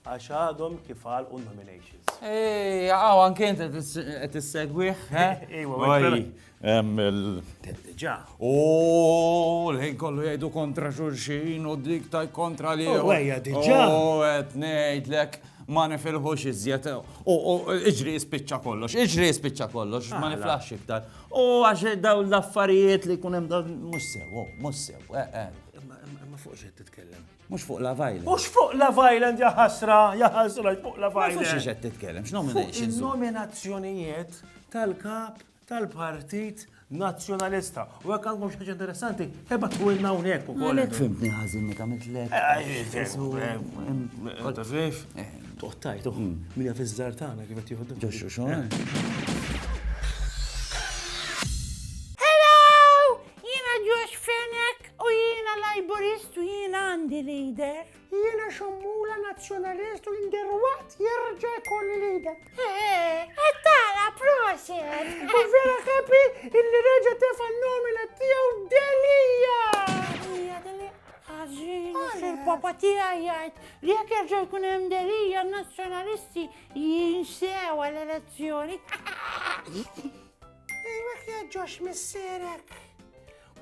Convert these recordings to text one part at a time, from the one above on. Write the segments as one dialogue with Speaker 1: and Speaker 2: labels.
Speaker 1: Għax għadhom kif għalqu n-nominations. Ej, għaw anke inti qed issegwih, Ġa. U l-ħin kollu jgħidu kontra xulxin u dik taj kontra li. U għajja diġa. U għet nejdlek ma nifilħux iżjed. U iġri jispicċa kollox, iġri jispicċa kollox, ma niflax iktar. U għax daw l-affarijiet li kunem daw mux sew, mux sew, eh, eh. Ma fuq xed titkellem. Mhux fuq Love Island. Mhux fuq Love Island ja ħasra, ja ħasra fuq Love Island. Mhux qed titkellem, x'nominations. Il-nominazzjonijiet tal-kap tal-Partit Nazzjonalista. U hekk għandkom xi interessanti, eba twilna hawnhekk ukoll. Għalhekk fimtni ħażin li tagħmel tlek. Tafif? Toħtajt uħ. Minja fiż-żar tagħna kif qed jieħdu. Ġoxxu xogħol. Hello! Jiena Josh Fenek. U jiena Laburist u jiena għandi leader. Jiena xommula nazzjonalist u inderwaqt jerġa' jkolli leader. Għattara, eh, proset! U vera happy illi reġa' tefa nomina tiegħu Delija! Hija Delija, ħażin, il-papa tiegħi jgħid li jekk jerġa' jkun hemm Delija nazzjonalisti jinsew għall-elezzjoni. Ejwa kieġġox missierek.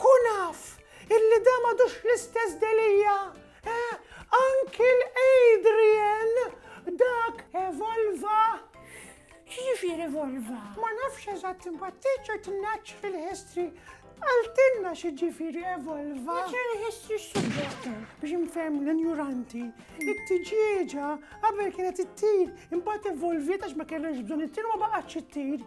Speaker 1: Kun af illi da m'għadux l-istess Delia, eh, anki l-Adrian dak evolva. X'jiġifieri evolva? Ma nafx eżatt imbagħad teacher tnaċċ fil-history Għaltinna xi ġifiri evolva. Ġifiri history subjetta. Biex nfem l-ignoranti, it-tiġieġa qabel kienet it-tir, imbagħad evolviet għax ma kellhomx bżonn it-tir ma baqgħetx it-tir.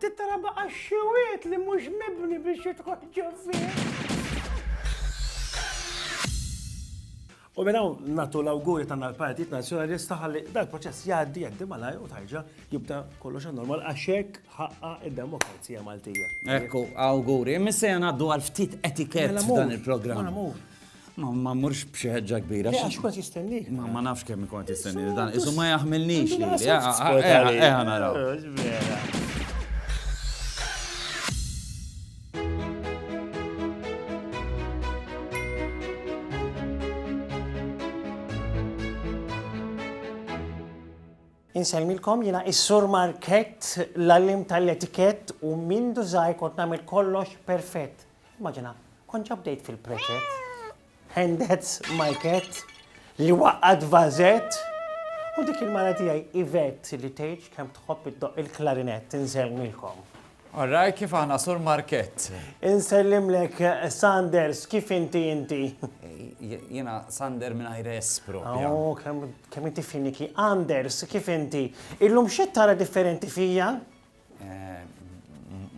Speaker 1: Tittara baqa xiwiet li mhux mibni biex jidħol ġovvien. U minn hawn nagħtu l-awguri tagħna l-Partit Nazzjonalista ħalli dal-proċess jgħaddi jgħaddi malaj u tarġa' jibda kollox normal għax hekk ħaqqa id-demokrazija Maltija. Ekku, awguri. Missejja ngħaddu għal ftit etikett mela, dan il-programm. Mela, Ma ma mmurx b'xi ħeġġa kbira. Le, għax kont jistenni. Ma ma nafx kemm kont jistenni dan. Isu ma jaħmilniex li. Eh, eh, eh, eh, naraw. Insemmilkom jina is-sur market, l-allim tal-etikett u mindu zaħi kont namil kollox perfett. Immaġina, kont ġa bdejt fil-preċett. And that's my cat li waqqat vażett. U dik il-mara tiegħi Ivet li tgħidx kemm tħobb iddoq il-klarinett insellmilkom. Orraj kif aħna sur Markett. Insellimlek Sanders kif inti inti. Jiena Sander mingħajr S propja. Oh, kemm inti finiki. Anders kif inti. Illum xi tara differenti fija?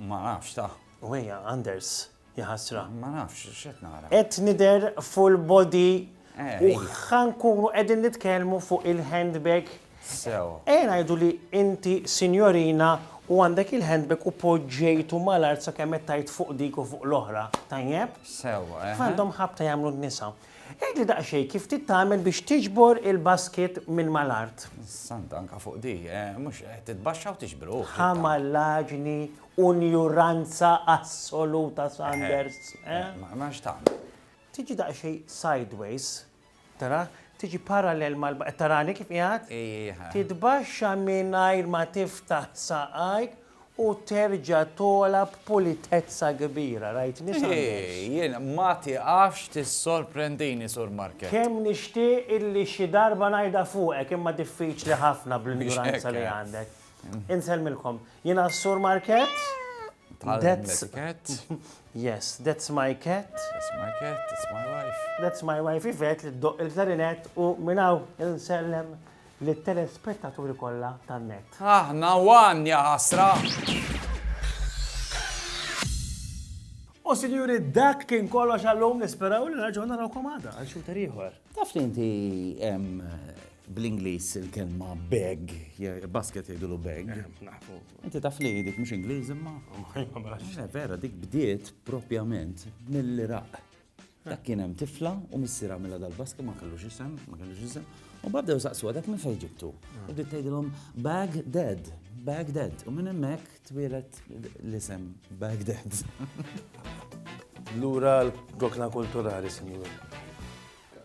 Speaker 1: Ma nafx ta. U hija, Anders, jaħasra. Ma nafx x'qed nara. Qed nidher full body u ħankunu qegħdin nitkellmu fuq il-handbag. Sew. Ejja ngħidu li inti sinjorina u għandek il-handbag u poġġejtu mal-art sakemm qed tgħid fuq dik u fuq l-oħra, tajjeb? Sew. Kif għandhom ħabta jagħmlu n-nisa? Għidli daqsxejn kif trid tagħmel biex tiġbor il-basket minn mal-art. Santa anke fuq di, mhux titbaxxa u tiġbruh. Ħa mallaġni u njuranza assoluta Sanders. Mela x'tagħmel? Tiġi daqsxejn sideways, tara, tiġi parallel mal qed tarani kif qiegħed? Titbaxxa mingħajr ma tiftaħ saqajk u terġa' togħla b'pulitezza kbira. Rajt nies għall-ers. Jien, ma tieqafx tissorprendini, Sur Markett. Kemm nixtieq illi xi darba ngħidha fuqek, imma diffiċli ħafna bl-injuranza li għandek. Insellmilkom. Jiena s-Sur Markett. Tgħallem l-etikett. Yes, that's my cat. That's my cat, that's my wife. That's my wife Yvette li ddoqq il-klarinett u minn hawn insellem lit-telespettaturi kollha tan-net. Aħna one, ja ħasra! U sinjuri, dak kien kollox għallum nisperaw li nerġgħu narawkom għada għal xuta ieħor. Taf li inti bl-Ingliż il-kelma bag, basket jgħidulu bag. Eh, inti taf li dik mhux Ingliż imma. Oh, eh, vera, dik bdiet propjament mill-Iraq. Dak kien hemm tifla u missier għamilha dal-baski ma kellux isem, ma kellux isem. U babdew saqsuha dak minn fejn ġibtu. U bdiet tgħidilhom bag dead, bag dead. U minn hemmhekk twielet l-isem bag dead. Lura l-gokna kulturali, sinjur.